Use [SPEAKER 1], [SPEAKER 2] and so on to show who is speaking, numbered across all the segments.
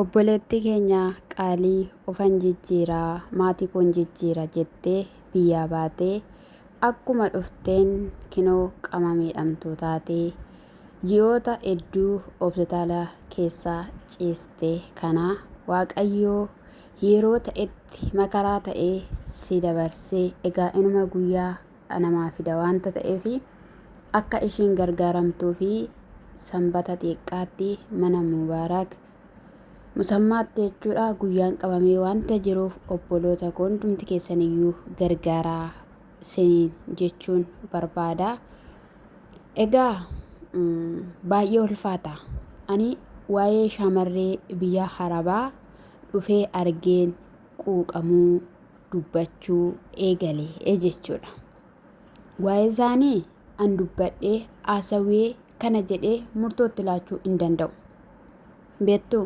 [SPEAKER 1] Obboleettii keenya qaalii ofan jijjiira maatii koon jijjiira jettee biyyaa baatee akkuma dhufteen kinoo qama miidhamtuu taatee ji'oota edduu obsitaala keessa ciiste kana waaqayyoo yeroo ta'etti makaraa ta'ee si dabarsee egaa inuma guyyaa namaa fida waanta ta'eef akka ishiin gargaaramtuu fi sanbata xiqqaatti mana Mubaaraak musammaatti jechuudha guyyaan qabamee waanta jiruuf obboloota koo hundumti keessaniyyuu gargaaraa siniin jechuun barbaada. Egaa baay'ee ulfaata. Ani waa'ee shaamarree biyya harabaa dhufee argeen quuqamuu dubbachuu eegale jechuudha. Waa'ee isaanii an dubbadhee haasawee kana jedhee murtootti laachuu hin danda'u. Beektu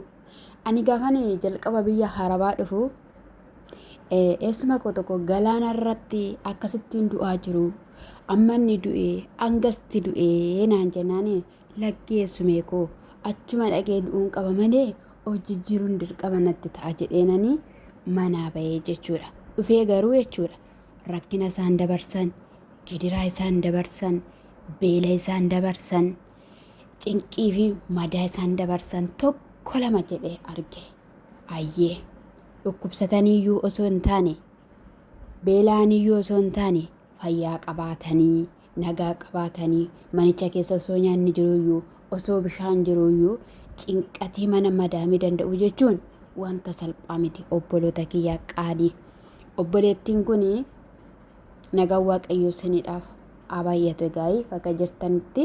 [SPEAKER 1] ani gaafan jalqaba biyya harabaa dhufu eessuma koo tokko galaana irratti akkasittiin du'aa jiru amma inni du'e angasti du'e naan jennaan Laggee sumee koo achuma dhaqee du'uun qaba malee of jijjiiruun dirqama natti ta'a jedheenani manaa bahee jechuudha. Dhufee garuu jechuudha rakkina isaan dabarsan, gidiraa isaan dabarsan, beela isaan dabarsan, cinqii fi madaa isaan dabarsan tokko lama jedhee arge. Ayyee dhukkubsataniiyyuu osoo hin taane beela'aniiyyuu osoo hin taane fayyaa qabaatanii nagaa qabaatanii manicha keessa osoo nyaanni jiruyyuu osoo bishaan jiruyyuu cinqatii mana madaamii danda'u jechuun wanta salphaa miti obboloota kiyyaa qaalii obboleettiin kun nagaan waaqayyoo siniidhaaf haa baay'atu egaa bakka jirtanitti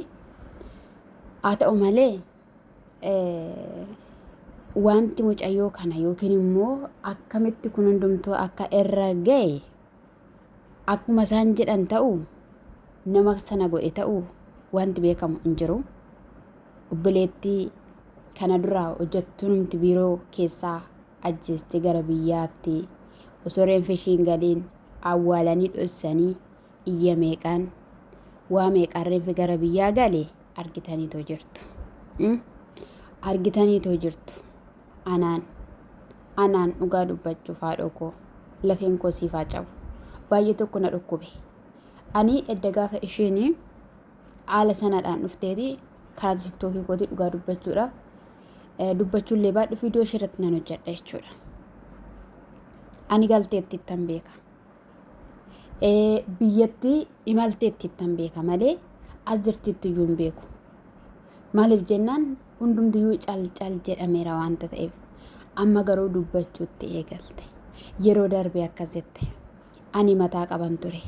[SPEAKER 1] haa ta'u malee wanti mucayyoo kana yookiin immoo akkamitti kun hundumtuu akka irra ga'e Akkuma isaan jedhan ta'uu nama sana godhe ta'uu wanti beekamu hin jiru. Obboleettii kana dura hojjettuunumti biiroo keessaa ajjeestee gara biyyaatti osoo reenfi ishiin galiin awwaalanii dhossanii iyya meeqaan waa meeqaan reenfi gara biyyaa gale argitaniitoo jirtu. Argitaniitoo jirtu. Anaan. Anaan dhugaa dubbachuuf haadhoo koo. Lafeen koo siif haa cabu. Baay'ee tokko na dhukkube. Ani edda gaafa isheen haala sanaadhaan dhufteeti karaa tiktookii kooti dhugaa dubbachuudhaaf dubbachuullee baadhu viidiyoo ishee irratti nan hojjedha jechuudha. Ani galteetti ittan beeka. Biyyatti imalteetti ittan beeka malee as jirtiitti iyyuu hin beeku. Maaliif jennaan Hundumtiyyuu cal cal jedhameera waanta ta'eef amma garuu dubbachuutti eegalte. Yeroo darbe akkas jette. Ani mataa qaban ture.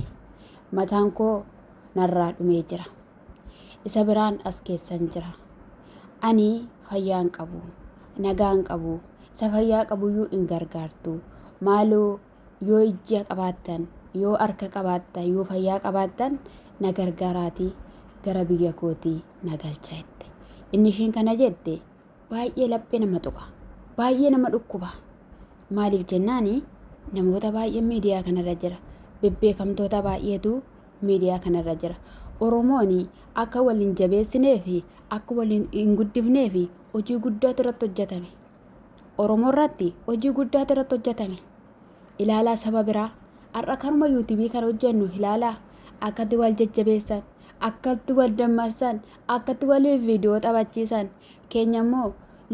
[SPEAKER 1] Mataan koo narraa dhumee jira. Isa biraan as keessan jira. Ani fayyaa hin qabu. Nagaa hin qabu. Isa fayyaa qabuyyuu hin gargaartu. Maaloo Yoo ijja qabaattan, yoo harka qabaattan, yoo fayyaa qabaattan na gargaaraatii gara biyya kootii na galcha jette. Inni isheen kana jette baay'ee laphee nama tuqa. Baay'ee nama dhukkuba. Maaliif jennaan namoota baay'een miidiyaa kanarra jira. Bebbeekamtoota baay'eetu miidiyaa kanarra jira. Oromoon akka wal hin jabeessinee fi akka wal hin guddifnee fi hojii guddaatu irratti hojjetame. Oromoo irratti hojii guddaatu irratti hojjetame. Ilaalaa saba biraa har'a kanuma yuutuubii kan hojjennu ilaalaa akkatti wal jajjabeessan akkatti wal dammaqsan akkatti waliif viidiyoo taphachiisan keenya immoo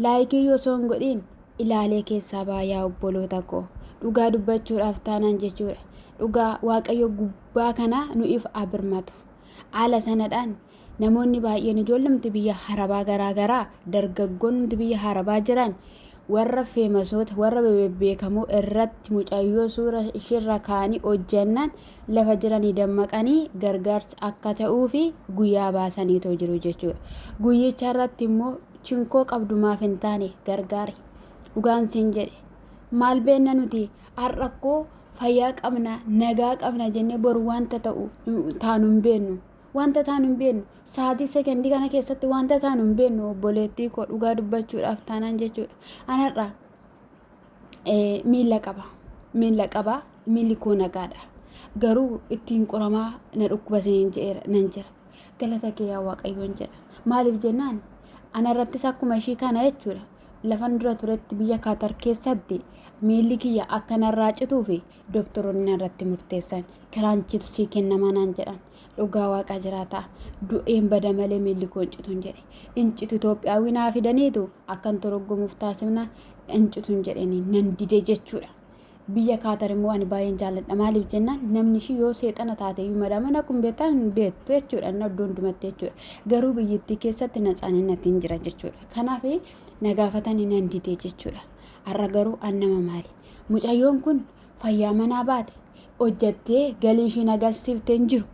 [SPEAKER 1] laayikii yoo osoo hin godhiin ilaalee keessaa baayaa obboloota koo dhugaa dubbachuudhaaf taanaan jechuudha. Dhugaa waaqayyo gubbaa kanaa nu'iif haa birmatu. Haala sanadhaan namoonni baay'een ijoollumti biyya harabaa garaa garaa dargaggoonumti biyya harabaa jiran warra feemasoota warra bebbeekamoo irratti mucayyoo suura ishirra kaanii hojjannaan lafa jiranii dammaqanii gargaarsa akka ta'uu fi guyyaa baasaniitoo jiru jechuudha. Guyyicha irratti immoo chinkoo qabdu maaf hin taane gargaari. Dhugaan siin jedhe maal beenna nuti Har'a koo fayyaa qabna, nagaa qabna jennee boru wanta ta'u taanu hin beennu. Wanta taanu hin beennu. Sa'aatii sekendii kana keessatti wanta taanu hin beennu obboleettii koo dhugaa dubbachuudhaaf taanaan jechuudha. An har'a miila qaba. Miila qaba. Miilli koo nagaadha. Garuu ittiin qoramaa na dhukkuba isiniin jedheera nan jira. Galata kee yaa Waaqayyoon jedha. Maaliif jennaan anarrattis akkuma ishii kana jechuudha. Lafan dura turetti biyya Kaatar keessatti miilli kiyya akka narraa cituu fi doktoroonni narratti murteessan kiraanchiitu sii kennamaa naan jedhan. Dhugaa waaqaa jiraataa du'een bada malee miilli koo hin cituun jedhe. Hin citu Itoophiyaawii naa fidaniitu akkan toroggomuuf taasifna hin cituun jedheen nan dide jechuudha. Biyya Kaatar immoo ani baay'een jaalladha. Maaliif jennaan namni ishii yoo seexana taate iyyuu madaaman akkuma beektan hin beektu jechuudha. Inni iddoo hundumatti jechuudha. Garuu biyyattii keessatti naxaaninatti hin jira jechuudha. Kanaaf na gaafatanii nan didee jechuudha. Har'a garuu an nama maali? Mucayyoon kun fayyaa manaa baate hojjattee galii ishiin agarsiifte hin jiru.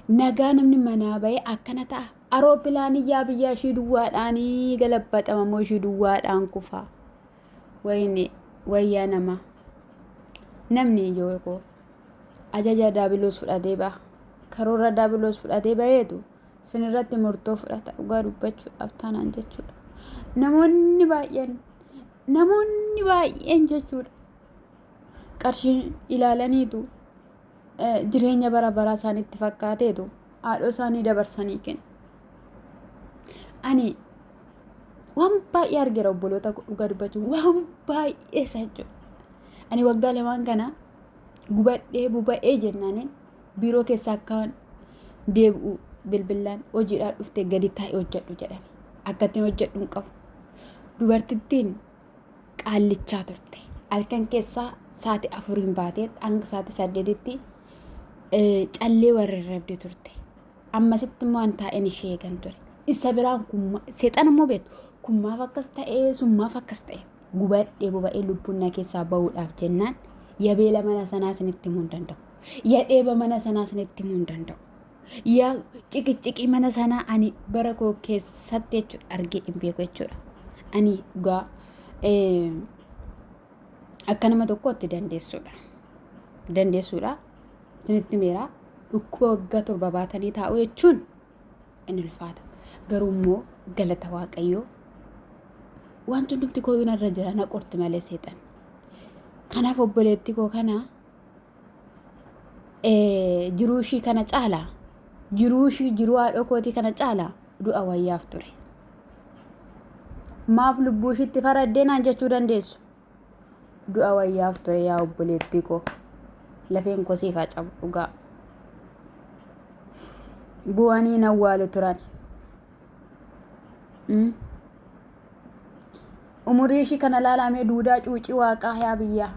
[SPEAKER 1] Nagaa namni manaa ba'ee akkana ta'a. Aroopilaanii yaa biyyaa ishii duwwaadhaanii galabbaxama moo ishii duwwaadhaan kufaa? wayne wayyaa nama namni yoo koo ajaja daabiloos fudhatee ba'a karoora daabiloos fudhatee ba'eetu sin irratti murtoo fudhata dhugaa dubbachuudhaaf taanaan jechuudha namoonni baay'een namoonni baay'een jechuudha qarshiin ilaalaniitu jireenya bara baraa isaanitti fakkaateetu haadhoo isaanii dabarsanii kennu. Ani waan baay'ee argeera obboloota dhugaa dubbachuu waan baay'ee isa jechuudha. Ani waggaa lamaan kana gubadhee buba'ee jennaaniin biiroo keessa akkaan deebi'u bilbilaan hojiidhaa dhufte gadi taa'e hojjedhu jedhame. Akkattiin hojjedhu hin qabu. Dubartittiin qaallichaa turte. Halkan keessaa saati afuriin baatee hanga saati saddeetitti callee warrarrabde turte. Ammasitti immoo an taa'een ishee eegan ture. Isa biraan kummaa seexana immoo beektu kummaaf akkas ta'ee summaaf akkas ta'e gubadhee boba'ee lubbuun na keessaa ba'uudhaaf jennaan yabeela mana sanaa isinitti himuu hin danda'u. Yadheeba mana sanaa isinitti himuu hin danda'u. yaa ciqiciqii mana sanaa ani bara koo keessatti jechuudha argee hin beeku jechuudha. Ani dhugaa akka nama tokkootti dandeessuudha. Dandeessuudha. Isinitti meeraa dhukkuba waggaa torba baatanii taa'u jechuun in ulfaata. Garuu immoo galata waaqayyoo wanti hundumti kooyuun irra jira na qorti malee seexan. Kanaaf obboleetti koo kanaa jiruu ishii kana caalaa jiruu ishii jiruu haadhoo kootii kana caalaa du'a wayyaaf ture. Maaf lubbuu ishiitti faraddee naan jechuu dandeessu. Du'a wayyaaf ture yaa obboleettii koo. Lafeen koo siif haa cabu dhugaa. Bu'anii na awwaalu turan. Umurii ishii kana laalamee duudaa cuucii waaqaa yaa biyyaa.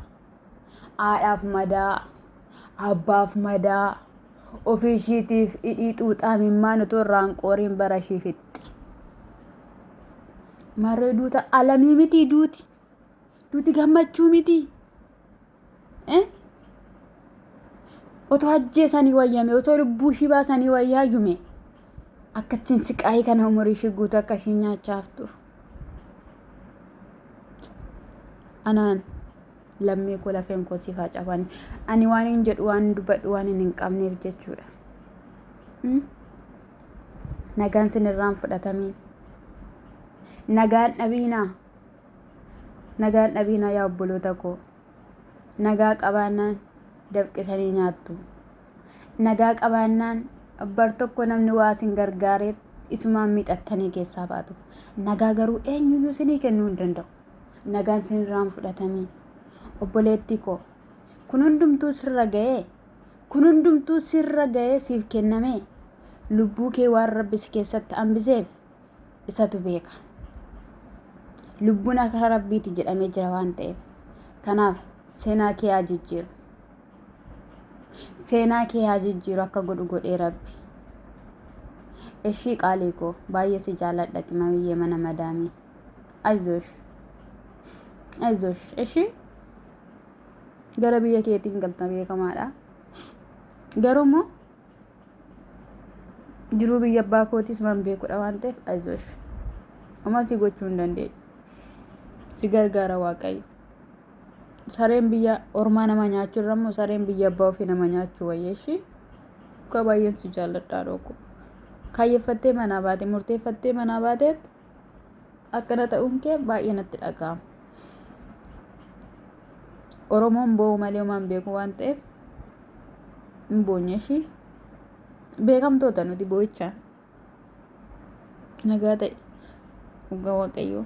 [SPEAKER 1] Haadhaaf madaa, abbaaf madaa, ofii ishiitiif hidhii xuuxaa mimmaan utuu irraan qooriin bara ishii fixxi. Marree duuta alamii mitii duuti. Duuti gammachuu mitii. Eh? Otoo ajjeesanii wayyame, otoo lubbuu ishii baasanii wayyaa yume. Akka ittiin siqaayii kana umurii ishii guutuu akka ishii nyaachaa haftuuf. anaan lammii koo lafeen koo siif haa cabani ani waan hin jedhu waan hin dubbadhu waan hin qabneef jechuudha Mm? nagaan sin irraan fudhatamiin nagaan dhabiinaa nagaan dhabiinaa yaa obboloota koo nagaa qabaannaan dafqisanii nyaattu Nagaa qabaannaan bar tokko namni waa isin gargaareet isumaan miixattanii keessaa baatu. Nagaa garuu eenyuyyuu isinii kennuu hin danda'u. Nagaan isinirraa hin fudhatamii. Obboleettii koo kun hundumtuu sirra ga'ee kun hundumtuu sirra ga'ee siif kennamee lubbuu kee waan rabbi si keessatti hambiseef isatu beeka. Lubbuun akka rabbiiti jedhamee jira waan ta'eef. Kanaaf seenaa kee haa jijjiiru. Seenaa kee haa jijjiiru akka godhu godhee rabbi. Eshii qaalii koo baay'ee si jaaladha qimamiyyee mana madaamii. Ayzosh. Ayzosh. Eshii gara biyya keetiin galta beekamaadha. Garuu immoo jiruu biyya abbaa kootis waan beekudha waan ta'eef ayzosh. Homaa si gochuu hin dandeenye. Si gargaara waaqayyo. sareen biyya ormaa nama nyaachu irra immoo sareen biyya abbaa ofii nama nyaachu wayyeeshi dhugaa baay'een si jaalladhaa dhooku kaayyeffattee manaa baate murteeffattee manaa baateet akkana ta'uun kee baay'ee natti dhaga'ama oromoon boo'u malee homaan beeku waan ta'eef hin boonyeeshi beekamtoota nuti boo'ichaa nagaa ta'e dhugaa waaqayyoo.